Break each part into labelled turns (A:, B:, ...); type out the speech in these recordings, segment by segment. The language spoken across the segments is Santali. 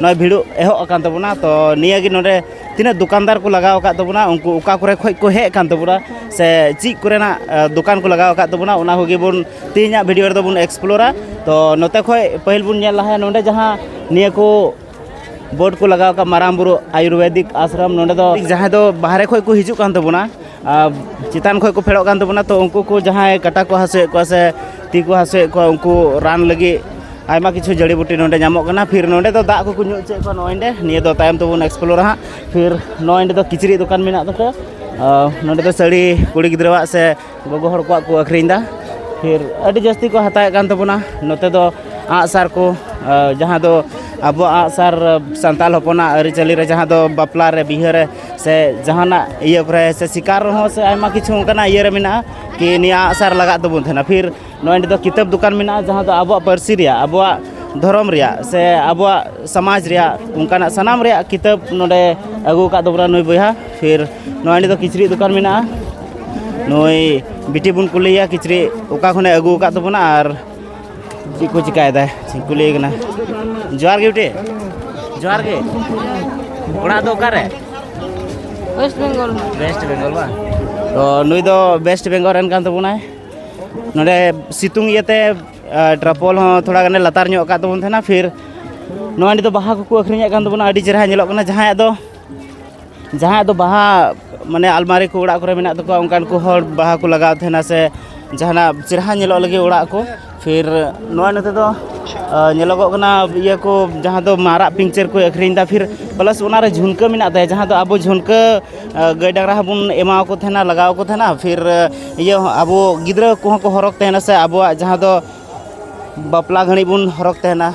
A: ᱱᱚᱜᱼᱚᱭ ᱵᱷᱤᱲ ᱮᱦᱚᱵ ᱟᱠᱟᱱ ᱛᱟᱵᱚᱱᱟ ᱛᱚ ᱱᱤᱭᱟᱹᱜᱮ ᱱᱚᱰᱮ ᱛᱤᱱᱟᱹᱜ ᱫᱚᱠᱟᱱᱫᱟᱨ ᱠᱚ ᱞᱟᱜᱟᱣ ᱟᱠᱟᱫ ᱛᱟᱵᱚᱱᱟ ᱩᱱᱠᱩ ᱚᱠᱟ ᱠᱚᱨᱮ ᱠᱷᱚᱱ ᱠᱚ ᱦᱮᱡ ᱟᱠᱟᱱ ᱛᱟᱵᱚᱱᱟ ᱥᱮ ᱪᱮᱫ ᱠᱚᱨᱮᱱᱟᱜ ᱫᱚᱠᱟᱱ ᱠᱚ ᱞᱟᱜᱟᱣ ᱟᱠᱟᱫ ᱛᱟᱵᱚᱱᱟ ᱚᱱᱟ ᱠᱚᱜᱮ ᱵᱚᱱ ᱛᱮᱦᱮᱧᱟᱜ ᱵᱷᱤᱰᱤᱭᱳ ᱨᱮᱫᱚ ᱵᱚᱱ ᱮᱠᱥᱯᱞᱳᱨᱟ ᱛᱚ ᱱᱚᱛᱮ ᱠᱷᱚᱱ ᱯᱟᱹᱦᱤᱞ ᱵᱚᱱ ᱧᱮᱞ ᱞᱟᱦᱟᱭᱟ ᱱᱚᱰᱮ ᱡᱟᱦᱟᱸ ᱱᱤᱭᱟᱹ ᱠᱚ ᱵᱳᱨᱰ ᱠᱚ ᱞᱟᱜᱟᱣ ᱟᱠᱟᱫ ᱢᱟᱨᱟᱝ ᱵᱩᱨᱩ ᱟᱭᱩᱨᱵᱮᱫᱤᱠ ᱟᱥᱨᱚᱢ ᱱᱚᱰᱮ ᱫᱚ ᱡᱟᱦᱟᱸᱭ ᱫᱚ ᱵᱟᱦᱨᱮ ᱠᱷᱚᱱ ᱠᱚ ᱦᱤᱡᱩᱜ ᱠᱟᱱ ᱛᱟᱵᱚᱱᱟ ᱪᱮᱛᱟᱱ ᱠᱷᱚᱱ ᱠᱚ ᱯᱷᱮᱰᱚᱜ ᱠᱟᱱ ᱛᱟᱵᱚᱱᱟ ᱛᱚ ᱩᱱᱠᱩ ᱠᱚ ᱡᱟᱦᱟᱸᱭ ᱠᱟᱴᱟ ᱠᱚ ᱦᱟᱹᱥᱩᱭᱮᱫ ᱠᱚᱣᱟ ᱥᱮ ᱛᱤ ᱠᱚ ᱦᱟᱹᱥᱩᱭᱮᱫ ᱠᱚᱣᱟ ᱩᱱᱠᱩ ᱨᱟᱱ ᱞᱟᱹᱜᱤᱫ ᱟᱭᱢᱟ ᱠᱤᱪᱷᱩ ᱡᱟᱹᱲᱤ ᱵᱩᱴᱤ ᱱᱚᱰᱮ ᱧᱟᱢᱚᱜ ᱠᱟᱱᱟ ᱯᱷᱤᱨ ᱱᱚᱰᱮ ᱫᱚ ᱫᱟᱜ ᱠᱚᱠᱚ ᱧᱩ ᱦᱚᱪᱚᱭᱮᱫ ᱠᱚᱣᱟ ᱱᱚᱜᱼᱚᱭ ᱱᱚᱰᱮ ᱱᱤᱭᱟᱹ ᱫᱚ ᱛᱟᱭᱚᱢ ᱛᱮᱵᱚᱱ ᱮᱠᱥᱯᱞᱳᱨᱟ ᱦᱟᱸᱜ ᱯᱷᱤᱨ ᱱᱚᱜᱼᱚᱭ ᱱᱚᱰᱮ ᱫᱚ ᱠᱤᱪᱨᱤᱡ ᱫᱚᱠᱟᱱ ᱢᱮᱱᱟᱜ ᱛᱟᱠᱚ ᱱᱚᱰᱮ ᱫᱚ ᱥᱟᱹᱲᱤ ᱠᱩᱲᱤ ᱜᱤᱫᱽᱨᱟᱹᱣᱟᱜ ᱥᱮ ᱜᱚᱜᱚ ᱦᱚᱲ ᱠᱚᱣᱟᱜ ᱠᱚ ᱟᱹᱠᱷᱨᱤᱧᱫᱟ ᱯᱷᱤᱨ ᱟᱹᱰᱤ ᱡᱟᱹᱥᱛᱤ ᱠᱚ ᱦᱟᱛᱟᱣᱮᱫ ᱠᱟᱱ ᱛᱟᱵᱚᱱᱟ ᱱᱚᱛᱮ ᱫᱚ ᱟᱸᱜᱼᱥᱟᱨ ᱠᱚ ᱡᱟᱦᱟᱸ ᱫᱚ ᱟᱵᱚᱣᱟᱜ ᱟᱸᱜᱼᱥᱟᱨ ᱥᱟᱱᱛᱟᱲ ᱦᱚᱯᱚᱱᱟᱜ ᱟᱹᱨᱤᱪᱟᱹᱞᱤ ᱨᱮ ᱡᱟᱦᱟᱸ ᱫᱚ ᱵᱟᱯᱞᱟ ᱨᱮ ᱵᱤᱦᱟᱹ ᱨᱮ ᱥᱮ ᱡᱟᱦᱟᱱᱟᱜ ᱤᱭᱟᱹ ᱠᱚᱨᱮ ᱥᱮ ᱥᱤᱠᱟᱨ ᱨᱮᱦᱚᱸ ᱥᱮ ᱟᱭᱢᱟ ᱠᱤᱪᱷᱩ ᱚᱱᱠᱟᱱᱟᱜ ᱤᱭᱟᱹ ᱨᱮ ᱢᱮᱱᱟᱜᱼᱟ ᱠᱤ ᱱᱤᱭᱟᱹ ᱟᱜᱼᱥᱟᱨ ᱞᱟᱜᱟᱜ ᱛᱟᱵᱚᱱ ᱛᱟᱦᱮᱱᱟ ᱯᱷᱤᱨ ᱱᱚᱜᱼᱚᱭ ᱱᱤᱛᱚᱜ ᱫᱚ ᱠᱤᱛᱟᱹᱵ ᱫᱚᱠᱟᱱ ᱢᱮᱱᱟᱜᱼᱟ ᱡᱟᱦᱟᱸ ᱫᱚ ᱟᱵᱚᱣᱟᱜ ᱯᱟᱹᱨᱥᱤ ᱨᱮᱭᱟᱜ ᱟᱵᱚᱣᱟᱜ ᱫᱷᱚᱨᱚᱢ ᱨᱮᱭᱟᱜ ᱥᱮ ᱟᱵᱚᱣᱟᱜ ᱥᱚᱢᱟᱡᱽ ᱨᱮᱭᱟᱜ ᱚᱱᱠᱟᱱᱟᱜ ᱥᱟᱱᱟᱢ ᱨᱮᱭᱟᱜ ᱠᱤᱛᱟᱹᱵ ᱱᱚᱰᱮ ᱟᱹᱜᱩ ᱟᱠᱟᱫ ᱛᱟᱵᱚᱱᱟ ᱱᱩᱭ ᱵᱚᱭᱦᱟ ᱯᱷᱤᱨ ᱱᱚᱜᱼᱚᱭ ᱱᱤᱛᱚᱜ ᱠᱤᱪᱨᱤᱡ ᱫᱚᱠᱟᱱ ᱢᱮᱱᱟᱜᱼᱟ ᱱᱩᱭ ᱵᱤᱴᱤ ᱵᱚᱱ ᱠᱩᱞᱤᱭᱮᱭᱟ ᱠᱤᱪᱨᱤᱡ ᱚᱠᱟ ᱠᱷᱚᱱᱮ ᱟᱹᱜᱩ ᱟᱠᱟᱫ ᱛᱟᱵᱚᱱᱟ ᱟᱨ ᱪᱮᱫ ᱠᱚ ᱪᱤᱠᱟᱭᱮᱫᱟ ᱪᱮᱫ ᱠᱚ ᱞᱟᱹᱭ ᱠᱟᱱᱟ ᱡᱚᱦᱟᱨ ᱜᱮ ᱵᱤᱴᱤ ᱡᱚᱦᱟᱨ ᱜᱮ ᱚᱲᱟᱜ ᱫᱚ ᱚᱠᱟᱨᱮ ᱳᱭᱮᱥᱴ ᱵᱮᱝᱜᱚᱞ ᱳᱭᱮᱥᱴ ᱵᱮᱝᱜᱚᱞ ᱵᱟᱝ ᱛᱚ ᱱᱩᱭ ᱫᱚ ᱳᱭᱮᱥᱴ ᱵᱮᱝᱜᱚᱞ ᱨᱮᱱ ᱠᱟᱱ ᱛᱟᱵᱚᱱᱟᱭ ᱱᱚᱰᱮ ᱥᱤᱛᱩᱝ ᱤᱭᱟᱹᱛᱮ ᱴᱨᱟᱯᱚᱞ ᱦᱚᱸ ᱛᱷᱚᱲᱟ ᱜᱟᱱᱮ ᱞᱟᱛᱟᱨ ᱧᱚᱜ ᱟᱠᱟᱫ ᱛᱟᱵᱚᱱ ᱛᱟᱦᱮᱱᱟ ᱯᱷᱤᱨ ᱱᱚᱣᱟ ᱱᱤᱛᱚᱜ ᱵᱟᱦᱟ ᱠᱚᱠᱚ ᱟᱹᱠᱷᱨᱤᱧᱮᱫ ᱠᱟᱱ ᱛᱟᱵᱚᱱᱟ ᱟᱹᱰᱤ ᱪᱮᱦᱨᱟ ᱧᱮᱞᱚᱜ ᱠᱟᱱᱟ ᱡᱟᱦᱟᱸᱭᱟᱜ ᱫᱚ ᱡᱟᱦᱟᱸᱭᱟᱜ ᱫᱚ ᱵᱟᱦᱟ ᱢᱟᱱᱮ ᱟᱞᱢᱟᱨᱤ ᱠᱚ ᱚᱲᱟᱜ ᱠᱚᱨᱮ ᱢᱮᱱᱟᱜ ᱛᱟᱠᱚᱣᱟ ᱚᱱᱠᱟᱱ ᱠᱚ ᱦᱚᱲ ᱵᱟᱦᱟ ᱠᱚ ᱞᱟᱜᱟᱣ ᱛᱟᱦᱮᱱᱟ ᱥᱮ ᱡᱟᱦᱟᱱᱟᱜ ᱪᱮᱦᱨᱟ ᱧᱮᱞᱚᱜ ᱞᱟᱹᱜᱤᱫ ᱚᱲᱟᱜ ᱠᱚ ᱯᱷᱤᱨ ᱱᱚᱜᱼᱚᱸᱭ ᱱᱚᱛᱮ ᱫᱚ ᱧᱮᱞᱚᱜᱚᱜ ᱠᱟᱱᱟ ᱤᱭᱟᱹ ᱠᱚ ᱡᱟᱦᱟᱸ ᱫᱚ ᱢᱟᱨᱟᱜ ᱯᱤᱧᱪᱟᱹᱨ ᱠᱚ ᱟᱹᱠᱷᱨᱤᱧᱫᱟ ᱯᱷᱤᱨ ᱯᱞᱟᱥ ᱚᱱᱟ ᱨᱮ ᱡᱷᱩᱱᱠᱟᱹ ᱢᱮᱱᱟᱜ ᱛᱟᱭᱟ ᱡᱟᱦᱟᱸ ᱫᱚ ᱟᱵᱚ ᱡᱷᱩᱱᱠᱟᱹ ᱜᱟᱹᱭ ᱰᱟᱝᱨᱟ ᱦᱚᱸ ᱵᱚᱱ ᱮᱢᱟ ᱠᱚ ᱛᱟᱦᱮᱱᱟ ᱞᱟᱜᱟᱣ ᱟᱠᱚ ᱛᱟᱦᱮᱱᱟ ᱯᱷᱤᱨ ᱤᱭᱟᱹ ᱦᱚᱸ ᱟᱵᱚ ᱜᱤᱫᱽᱨᱟᱹ ᱠᱚᱦᱚᱸ ᱠᱚ ᱦᱚᱨᱚᱜᱽ ᱛᱟᱦᱮᱱᱟ ᱥᱮ ᱟᱵᱚᱣᱟᱜ ᱡᱟᱦᱟᱸ ᱫᱚ ᱵᱟᱯᱞᱟ ᱜᱷᱟᱹᱲᱤᱡ ᱵᱚᱱ ᱦᱚᱨᱚᱜᱽ ᱛᱟᱦᱮᱱᱟ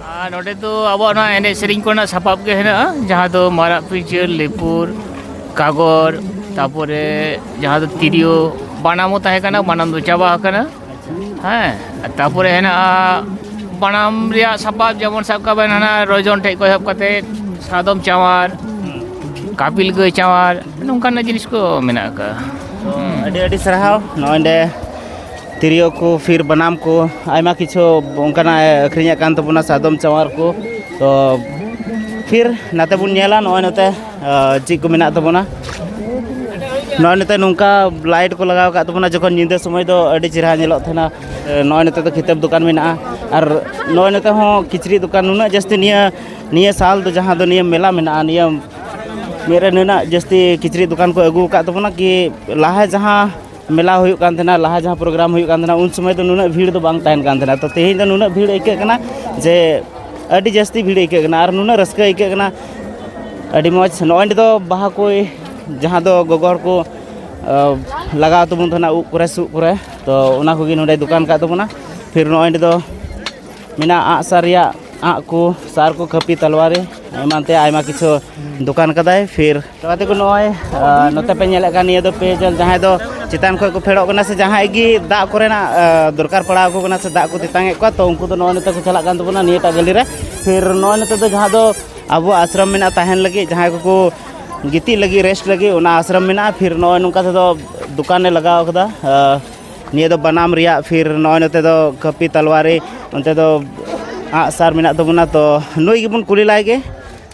A: ᱱᱚᱰᱮ ᱫᱚ ᱟᱵᱚᱣᱟᱜ ᱱᱚᱣᱟ ᱮᱱᱮᱡ ᱥᱮᱨᱮᱧ ᱠᱚᱨᱮᱱᱟᱜ ᱥᱟᱯᱟᱵ ᱜᱮ ᱦᱮᱱᱟᱜᱼᱟ ᱡᱟᱦᱟᱸ ᱫᱚ ᱢᱟᱨᱟᱜ ᱯᱤᱧᱪᱟᱹᱨ ᱞᱤᱯᱩᱨ ᱠᱟᱜᱚᱨ ᱛᱟᱯᱚᱨᱮ ᱡᱟᱦᱟᱸ ᱫᱚ ᱛᱤᱨᱭᱳ ᱵᱟᱱᱟᱢ ᱦᱚᱸ ᱛᱟᱦᱮᱸ ᱠᱟᱱᱟ ᱵᱟᱱᱟᱢ ᱫᱚ ᱪᱟᱵᱟ ᱟᱠᱟᱱᱟ ᱦᱮᱸ ᱛᱟᱯᱚᱨᱮ ᱦᱮᱱᱟᱜᱼᱟ ᱵᱟᱱᱟᱢ ᱨᱮᱭᱟᱜ ᱥᱟᱯᱟᱵ ᱡᱮᱢᱚᱱ ᱥᱟᱵ ᱠᱟᱜ ᱵᱮᱱ ᱦᱟᱱᱟ ᱨᱚᱡᱚᱱ ᱴᱷᱮᱡ ᱠᱷᱚᱱ ᱮᱦᱚᱵ ᱠᱟᱛᱮ ᱥᱟᱫᱚᱢ ᱪᱟᱶᱟᱨ ᱠᱟᱯᱤᱞ ᱜᱟᱹᱭ ᱪᱟᱶᱟᱨ ᱱᱚᱝᱠᱟᱱᱟᱜ ᱡᱤᱱᱤᱥ ᱠᱚ ᱢᱮᱱᱟᱜ ᱟᱠᱟᱫᱼᱟ ᱟᱹᱰᱤ ᱟᱹᱰᱤ ᱥᱟᱨᱦᱟᱣ ᱱᱚᱜᱼᱚᱭ ᱱᱚᱰᱮ ᱛᱤᱨᱭᱳ ᱠᱚ ᱯᱷᱤᱨ ᱵᱟᱱᱟᱢ ᱠᱚ ᱟᱭᱢᱟ ᱠᱤᱪᱷᱩ ᱚᱱᱠᱟᱱᱟᱜ ᱟᱹᱠᱷᱨᱤᱧᱮᱫ ᱠᱟᱱ ᱛᱟᱵᱚᱱᱟ ᱥᱟᱫᱚᱢ ᱪᱟᱣᱟᱨ ᱠᱚ ᱛᱚ ᱯᱷᱤᱨ ᱱᱟᱛᱮ ᱵᱚᱱ ᱧᱮᱞᱟ ᱱᱚᱜᱼᱚᱭ ᱱᱚᱛᱮ ᱪᱮᱫ ᱠᱚ ᱢᱮᱱᱟᱜ ᱛᱟᱵᱚᱱᱟ ᱱᱚᱜᱼᱚᱭ ᱱᱚᱛᱮ ᱱᱚᱝᱠᱟ ᱞᱟᱭᱤᱴ ᱠᱚ ᱞᱟᱜᱟᱣ ᱠᱟᱜ ᱛᱟᱵᱚᱱᱟ ᱡᱚᱠᱷᱚᱱ ᱧᱤᱫᱟᱹ ᱥᱚᱢᱚᱭ ᱫᱚ ᱟᱹᱰᱤ ᱪᱮᱦᱨᱟ ᱧᱮᱞᱚᱜ ᱛᱟᱦᱮᱱᱟ ᱱᱚᱜᱼᱚᱭ ᱱᱚᱛᱮ ᱫᱚ ᱠᱤᱛᱟᱹᱵ ᱫᱚᱠᱟᱱ ᱢᱮᱱᱟᱜᱼᱟ ᱟᱨ ᱱᱚᱜᱼᱚᱭ ᱱᱚᱛᱮ ᱦᱚᱸ ᱠᱤᱪᱨᱤᱡ ᱫᱚᱠᱟᱱ ᱱᱩᱱᱟᱹᱜ ᱡᱟᱹᱥᱛᱤ ᱱᱤᱭᱟᱹ ᱱᱤᱭᱟᱹ ᱥᱟᱞ ᱫᱚ ᱡᱟᱦᱟᱸ ᱫᱚ ᱱᱤᱭᱟᱹ ᱢᱮᱞᱟ ᱢᱮᱱᱟᱜᱼᱟ ᱱᱤᱭᱟᱹ ᱢᱮᱫ ᱨᱮ ᱱᱩᱱᱟᱹᱜ ᱡᱟᱹᱥᱛᱤ ᱠᱤᱪᱨᱤᱡ ᱫᱚᱠᱟᱱ ᱠᱚ ᱟᱹᱜᱩ ᱠᱟᱜ ᱛᱟᱵᱚᱱᱟ ᱠᱤ ᱞᱟᱦᱟ ᱡᱟᱦᱟᱸ ᱢᱮᱞᱟ ᱦᱩᱭᱩᱜ ᱠᱟᱱ ᱛᱟᱦᱮᱱᱟ ᱞᱟᱦᱟ ᱡᱟᱦᱟᱸ ᱯᱨᱳᱜᱨᱟᱢ ᱦᱩᱭᱩᱜ ᱠᱟᱱ ᱛᱟᱦᱮᱱᱟ ᱩᱱ ᱥᱚᱢᱚᱭ ᱫᱚ ᱱᱩᱱᱟᱹᱜ ᱵᱷᱤᱲ ᱫᱚ ᱵᱟᱝ ᱛᱟᱦᱮᱱ ᱠᱟᱱ ᱛᱟᱦᱮᱱᱟ ᱛᱚ ᱛᱮᱦᱮᱧ ᱫᱚ ᱱᱩᱱᱟᱹᱜ ᱵᱷᱤᱲ ᱟᱹᱭᱠᱟᱹᱜ ᱠᱟᱱᱟ ᱡᱮ ᱟᱹᱰᱤ ᱡᱟᱹᱥᱛᱤ ᱵᱷᱤᱲ ᱟᱹᱭᱠᱟᱹᱜ ᱠᱟᱱᱟ ᱟᱨ ᱱᱩᱱᱟᱹᱜ ᱨᱟᱹᱥᱠᱟᱹ ᱟᱹᱭᱠᱟᱹᱜ ᱠᱟᱱᱟ ᱟᱹᱰᱤ ᱢᱚᱡᱽ ᱱᱚᱜᱼᱚᱭ ᱱᱤᱛᱚᱜ ᱫᱚ ᱵᱟᱦᱟ ᱠᱚ ᱡᱟᱦᱟᱸ ᱫᱚ ᱜᱚᱜᱚ ᱦᱚᱲ ᱠᱚ ᱞᱟᱜᱟᱣ ᱛᱟᱵᱚᱱ ᱛᱟᱦᱮᱱᱟ ᱩᱵ ᱠᱚᱨᱮ ᱥᱩᱫ ᱠᱚᱨᱮ ᱛᱚ ᱚᱱᱟ ᱠᱚᱜᱮ ᱱᱚᱰᱮ ᱫᱚᱠᱟᱱ ᱠᱟᱜ ᱛᱟᱵᱚᱱᱟ ᱯᱷᱤᱨ ᱱᱚᱜᱼᱚᱭ ᱱᱚᱰᱮ ᱫᱚ ᱢᱮᱱᱟᱜᱼᱟ ᱟᱸᱜᱼᱥᱟᱨ ᱨᱮᱭᱟᱜ ᱟᱸᱜ ᱠᱚ ᱥᱟᱨ ᱠᱚ ᱠᱟᱹᱯᱤ ᱛᱟᱞᱣᱟᱨᱤ ᱮᱢᱟᱱ ᱛᱮᱭᱟᱜ ᱟᱭᱢᱟ ᱠᱤᱪᱷᱩ ᱫᱚᱠᱟᱱ ᱠᱟᱫᱟᱭ ᱯᱷᱤᱨ ᱛᱚ ᱜᱟᱛᱮ ᱠᱚ ᱱᱚᱜᱼᱚᱭ ᱱᱚᱛᱮ ᱯᱮ ᱧᱮᱞᱮᱫ ᱠᱟᱱ ᱱᱤᱭᱟᱹ ᱫᱚ ᱯᱮᱭᱡᱚᱞ ᱡᱟᱦᱟᱸᱭ ᱫᱚ ᱪᱮᱛᱟᱱ ᱠᱷᱚᱱ ᱠᱚ ᱯᱷᱮᱰᱚᱜ ᱠᱟᱱᱟ ᱥᱮ ᱡᱟᱦᱟᱸᱭ ᱜᱮ ᱫᱟᱜ ᱠᱚᱨᱮᱱᱟᱜ ᱫᱚᱨᱠᱟᱨ ᱯᱟᱲᱟᱣ ᱟᱠᱚ ᱠᱟᱱᱟ ᱥᱮ ᱫᱟᱜ ᱠᱚ ᱛᱮᱛᱟᱝ ᱮᱫ ᱠᱚᱣᱟ ᱛᱚ ᱩᱱᱠᱩ ᱫᱚ ᱱᱚᱜᱼᱚᱭ ᱱᱚᱛᱮ ᱠᱚ ᱪᱟᱞᱟᱜ ᱠᱟᱱ ᱛᱟᱵᱚᱱᱟ ᱱᱤᱭᱟᱹᱴᱟᱜ ᱜᱟᱹᱞᱤ ᱨᱮ ᱯᱷᱤᱨ ᱱᱚᱜᱼᱚᱭ ᱱᱚᱛᱮ ᱫᱚ ᱡᱟᱦᱟᱸ ᱫᱚ ᱟᱵᱚ ᱟᱥᱨᱚᱢ ᱢᱮᱱᱟᱜᱼᱟ ᱛᱟᱦᱮᱱ ᱞᱟᱹᱜᱤᱫ ᱡᱟᱦᱟᱸᱭ ᱠᱚᱠᱚ ᱜᱤᱛᱤᱡ ᱞᱟᱹᱜᱤᱫ ᱨᱮᱥᱴ ᱞᱟᱹᱜᱤᱫ ᱚᱱᱟ ᱟᱥᱨᱚᱢ ᱢᱮᱱᱟᱜᱼᱟ ᱯᱷᱤᱨ ᱱᱚᱜᱼᱚᱭ ᱱᱚᱝᱠᱟ ᱛᱮᱫᱚ ᱫᱚᱠᱟᱱᱮ ᱞᱟᱜᱟᱣ ᱠᱟᱫᱟ ᱱᱤᱭᱟᱹ ᱫᱚ ᱵᱟᱱᱟᱢ ᱨᱮᱭᱟᱜ ᱯᱷᱤᱨ ᱱᱚᱜᱼᱚᱭ ᱱᱚᱛᱮ ᱫᱚ ᱠᱟᱹᱯᱤ ᱛᱟᱞᱣᱟᱨᱤ ᱚᱱᱛᱮ ᱫᱚ ᱟᱜᱼᱥᱟᱨ ᱢᱮᱱᱟᱜ ᱛᱟᱵᱚᱱᱟ ᱛᱚ ᱱᱩᱭ ᱜᱮᱵᱚᱱ ᱠᱩᱞᱤ ᱞᱟᱭᱜᱮ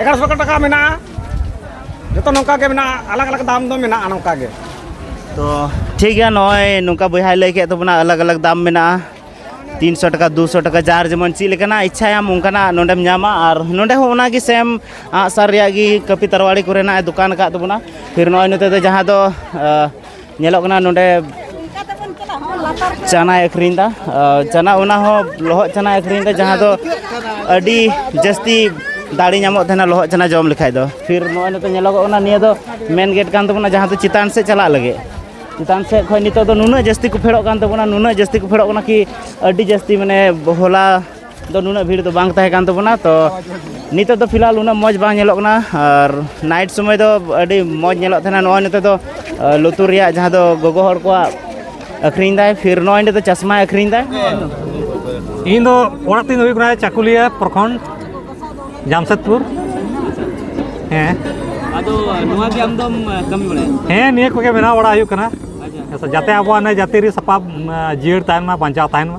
A: ᱮᱜᱟᱨᱚ ᱥᱚ ᱴᱟᱠᱟ ᱢᱮᱱᱟᱜᱼᱟ ᱡᱚᱛᱚ ᱱᱚᱝᱠᱟ ᱜᱮ ᱢᱮᱱᱟᱜᱼᱟ ᱟᱞᱟᱜᱽ ᱟᱞᱟᱜᱽ ᱫᱟᱢ ᱫᱚ ᱢᱮᱱᱟᱜᱼᱟ ᱱᱚᱝᱠᱟ ᱜᱮ ᱛᱚ ᱴᱷᱤᱠ ᱜᱮᱭᱟ ᱱᱚᱜᱼᱚᱭ ᱱᱚᱝᱠᱟ ᱵᱚᱭᱦᱟᱭ ᱞᱟᱹᱭ ᱠᱮᱫ ᱛᱟᱵᱚᱱᱟ ᱟᱞᱟᱜᱽ ᱟᱞᱟᱜᱽ ᱫᱟᱢ ᱢᱮᱱᱟᱜᱼᱟ ᱛᱤᱱ ᱥᱚ ᱴᱟᱠᱟ ᱫᱩ ᱥᱚ ᱴᱟᱠᱟ ᱡᱟᱦᱟᱸ ᱡᱮᱢᱚᱱ ᱪᱮᱫ ᱞᱮᱠᱟᱱᱟᱜ ᱤᱪᱪᱷᱟᱭᱟᱢ ᱚᱱᱠᱟᱱᱟᱜ ᱱᱚᱰᱮᱢ ᱧᱟᱢᱟ ᱟᱨ ᱱᱚᱰᱮ ᱦᱚᱸ ᱚᱱᱟᱜᱮ ᱥᱮᱢ ᱟᱸᱜᱼᱥᱟᱨ ᱨᱮᱭᱟᱜ ᱜᱮ ᱠᱟᱹᱯᱤ ᱛᱟᱨᱣᱟᱲᱤ ᱠᱚᱨᱮᱱᱟᱜ ᱮ ᱫᱚᱠᱟᱱ ᱟᱠᱟᱫ ᱛᱟᱵᱚᱱᱟ ᱯᱷᱤᱨ ᱱᱚᱜᱼᱚᱭ ᱱᱚᱛᱮ ᱫᱚ ᱡᱟᱦᱟᱸ ᱫᱚ ᱧᱮᱞᱚᱜ ᱠᱟᱱᱟ ᱱᱚᱰᱮ ᱪᱟᱱᱟᱭ ᱟᱹᱠᱷᱨᱤᱧ ᱮᱫᱟ ᱪᱟᱱᱟ ᱚᱱᱟ ᱦᱚᱸ ᱞᱚᱦᱚᱫ ᱪᱟᱱᱟᱭ ᱟᱹᱠᱷᱨᱤᱧ ᱮᱫᱟ ᱡᱟᱦᱟᱸ ᱫᱚ ᱟᱹᱰᱤ ᱡᱟᱹᱥᱛᱤ ᱫᱟᱲᱮ ᱧᱟᱢᱚᱜ ᱛᱟᱦᱮᱱᱟ ᱞᱚᱦᱚᱫ ᱪᱟᱱᱟ ᱡᱚᱢ ᱞᱮᱠᱷᱟᱡ ᱫᱚ ᱯᱷᱤᱨ ᱱᱚᱜᱼᱚᱭ ᱱᱤᱛᱚᱜ ᱧᱮᱞᱚᱜᱚᱜ ᱠᱟᱱᱟ ᱱᱤᱭᱟᱹ ᱫᱚ ᱢᱮᱱ ᱜᱮᱴ ᱠᱟᱱ ᱛᱟᱵᱚᱱᱟ ᱡᱟᱦᱟᱸ ᱫᱚ ᱪᱮᱛᱟᱱ ᱥᱮᱫ ᱪᱟᱞᱟᱜ ᱞᱟᱹᱜᱤᱫ ᱪᱮᱛᱟᱱ ᱥᱮᱫ ᱠᱷᱚᱡ ᱱᱤᱛᱚᱜ ᱫᱚ ᱱᱩᱱᱟᱹᱜ ᱡᱟᱹᱥᱛᱤ ᱠᱚ ᱯᱷᱮᱰᱚᱜ ᱠᱟᱱ ᱛᱟᱵᱚᱱᱟ ᱱᱩᱱᱟᱹᱜ ᱡᱟᱹᱥᱛᱤ ᱠᱚ ᱯᱷᱮᱰᱚᱜ ᱠᱟᱱᱟ ᱠᱤ ᱟᱹᱰᱤ ᱡᱟᱹᱥᱛᱤ ᱢᱟᱱᱮ ᱦᱚᱞᱟ ᱫᱚ ᱱᱩᱱᱟᱹᱜ ᱵᱷᱤᱲ ᱫᱚ ᱵᱟᱝ ᱛᱟᱦᱮᱸ ᱠᱟᱱ ᱛᱟᱵᱚᱱᱟ ᱛᱚ ᱱᱤᱛᱚᱜ ᱫᱚ ᱯᱷᱤᱞᱦᱟᱞ ᱩᱱᱟᱹᱜ ᱢᱚᱡᱽ ᱵᱟᱝ ᱧᱮᱞᱚᱜ ᱠᱟᱱᱟ ᱟᱨ ᱱᱟᱭᱤᱴ ᱥᱚᱢᱚᱭ ᱫᱚ ᱟᱹᱰᱤ ᱢᱚᱡᱽ ᱧᱮᱞᱚᱜ ᱛᱟᱦᱮᱱᱟ ᱱᱚᱜᱼᱚᱭ ᱱᱤᱛᱚᱜ ᱫᱚ ᱞᱩᱛᱩᱨ ᱨᱮᱭᱟᱜ ᱡᱟᱦᱟᱸ ᱫᱚ ᱜᱚᱜᱚ ᱦᱚᱲ ᱠᱚᱣᱟᱜ ᱟᱹᱠᱷᱨᱤᱧ ᱫᱟᱭ ᱯᱷᱤᱨ ᱱᱚᱜᱼᱚᱭ ᱱᱤᱛᱚᱜ ᱫᱚ ᱪᱟᱥᱢᱟᱭ ᱟᱹᱠᱷᱨᱤᱧ ᱫᱟᱭ ᱤᱧ ᱫᱚ ᱚᱲᱟᱜ ᱛᱤᱧ ᱦᱩᱭᱩᱜ ᱠᱟᱱᱟ ᱪᱟᱠᱩᱞᱤᱭᱟ ᱯᱨᱚᱠᱷᱚᱸᱰ ᱡᱟᱢᱥᱮᱫᱽᱯᱩᱨ ᱦᱮᱸ ᱟᱫᱚ ᱱᱚᱣᱟ ᱜᱮ ᱟᱢ ᱫᱚᱢ ᱠᱟᱹᱢᱤ ᱵᱟᱲᱟᱭᱟ ᱦᱮᱸ ᱱᱤᱭᱟᱹ ᱠᱚᱜᱮ ᱵᱮᱱᱟᱣ ᱵᱟᱲᱟ ᱦᱩᱭᱩᱜ ᱠᱟᱱᱟ ᱡᱟᱛᱮ ᱟᱵᱚᱣᱟᱜ ᱡᱟᱹᱛᱤ ᱨᱮ ᱥᱟᱯᱟᱵ ᱡᱤᱭᱟᱹᱲ ᱛᱟᱦᱮᱱ ᱢᱟ ᱵᱟᱧᱪᱟᱣ ᱛᱟᱦᱮᱱ ᱢᱟ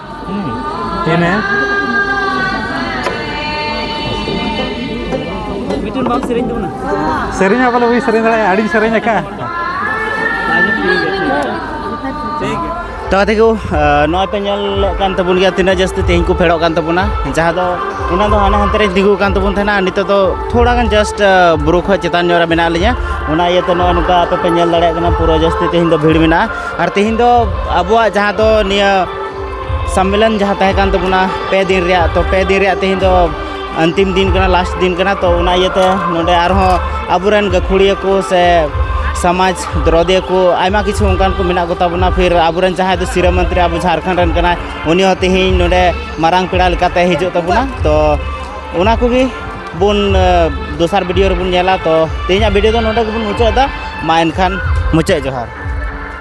A: เห็นไหม ᱢᱤᱫᱴᱮᱱ ᱵᱟᱢ ᱥᱮᱨᱮᱧ ᱛᱟᱵᱚᱱᱟ ᱥᱮᱨᱮᱧ ᱵᱚᱞᱮ ᱦᱩᱭ ᱥᱮᱨᱮᱧ ᱫᱟᱲᱮᱭᱟᱜᱼᱟ ᱟᱹᱰᱤᱧ ᱥᱮᱨᱮᱧ ᱟᱠᱟᱫᱼᱟ ᱛᱟᱦᱚᱞᱮ ᱛᱮᱜᱮ ᱱᱚᱜᱼᱚᱭ ᱯᱮ ᱧᱮᱞᱚᱜ ᱠᱟᱱ ᱛᱟᱵᱚᱱ ᱜᱮᱭᱟ ᱛᱤᱱᱟᱹᱜ ᱡᱟᱹᱥᱛᱤ ᱛᱮᱦᱮᱧ ᱠᱚ ᱯᱷᱮᱰᱚᱜ ᱠᱟᱱ ᱛᱟᱵᱚᱱᱟ ᱡᱟᱦᱟᱸ ᱫᱚ ᱚᱱᱟ ᱫᱚ ᱦᱟᱱᱟ ᱦᱟᱱᱛᱮ ᱨᱮ ᱛᱤᱸᱜᱩ ᱠᱟᱱ ᱛᱟᱵᱚᱱ ᱛᱟᱦᱮᱱᱟ ᱟᱨ ᱱᱤᱛᱚᱜ ᱫᱚ ᱛᱷᱚᱲᱟ ᱜᱟᱱ ᱡᱟᱥᱴ ᱵᱩᱨᱩ ᱠᱷᱚᱡ ᱪᱮᱛᱟᱱ ᱧᱚᱜ ᱨᱮ ᱢᱮᱱᱟᱜ ᱞᱤᱧᱟᱹ ᱚᱱᱟ ᱤᱭᱟᱹᱛᱮ ᱱᱚᱜᱼᱚᱭ ᱱᱚᱝᱠᱟ ᱟᱯᱮ ᱯᱮ ᱧᱮᱞ ᱫᱟᱲᱮᱭᱟᱜ ᱠᱟᱱᱟ ᱯᱩᱨᱟᱹ ᱡᱟᱹᱥᱛᱤ ᱛᱮᱦᱮᱧ ᱫᱚ ᱵᱷᱤᱲ ᱢᱮᱱᱟᱜᱼᱟ ᱟᱨ ᱛᱮᱦᱮᱧ ᱫᱚ ᱟᱵᱚᱣᱟᱜ ᱡᱟᱦᱟᱸ ᱫᱚ ᱱᱤᱭᱟᱹ ᱥᱚᱢᱢᱮᱞᱚᱱ ᱡᱟᱦᱟᱸ ᱛᱟᱦᱮᱸ ᱠᱟᱱ ᱛᱟᱵᱚᱱᱟ ᱯᱮ ᱫᱤᱱ ᱨᱮᱭᱟᱜ ᱛᱚ ᱯᱮ ᱫᱤᱱ ᱨᱮᱭᱟᱜ ᱛᱮᱦᱮᱧ ᱫᱚ ᱟᱱᱛᱤᱢ ᱫᱤᱱ ᱠᱟᱱᱟ ᱞᱟᱥᱴ ᱫᱤᱱ ᱠᱟᱱᱟ ᱛᱚ ᱚᱱᱟ ᱤᱭᱟᱹᱛᱮ ᱱᱚᱰᱮ ᱟᱨᱦᱚᱸ ᱟᱵᱚᱨᱮᱱ ᱜᱟᱹᱠᱷᱩᱲᱤᱭᱟᱹ ᱠᱚ ᱥᱮ ᱥᱚᱢᱟᱡᱽ ᱫᱨᱚᱫᱤᱭᱟᱹ ᱠᱚ ᱟᱭᱢᱟ ᱠᱤᱪᱷᱩ ᱚᱱᱠᱟᱱ ᱠᱚ ᱢᱮᱱᱟᱜ ᱠᱚᱛᱟ ᱵᱚᱱᱟ ᱯᱷᱤᱨ ᱟᱵᱚᱨᱮᱱ ᱡᱟᱦᱟᱸᱭ ᱫᱚ ᱥᱤᱨᱟᱹ ᱢᱚᱱᱛᱨᱤ ᱟᱵᱚ ᱡᱷᱟᱲᱠᱷᱚᱸᱰ ᱨᱮᱱ ᱠᱟᱱᱟᱭ ᱩᱱᱤ ᱦᱚᱸ ᱛᱮᱦᱮᱧ ᱱᱚᱰᱮ ᱢᱟᱨᱟᱝ ᱯᱮᱲᱟ ᱞᱮᱠᱟᱛᱮ ᱦᱤᱡᱩᱜ ᱛᱟᱵᱚᱱᱟ ᱛᱚ ᱚᱱᱟ ᱠᱚᱜᱮ ᱵᱚᱱ ᱫᱚᱥᱟᱨ ᱵᱷᱤᱰᱤᱭᱳ ᱨᱮᱵᱚᱱ ᱧᱮᱞᱟ ᱛᱚ ᱛᱮᱦᱮᱧᱟᱜ ᱵᱷᱤᱰᱤᱭᱳ ᱫᱚ ᱱᱚᱰᱮ ᱜᱮᱵᱚᱱ ᱢᱩᱪᱟᱹᱫ ᱮᱫᱟ ᱢᱟ ᱮᱱᱠᱷᱟᱱ ᱢᱩᱪᱟᱹᱫ ᱡᱚᱦᱟᱨ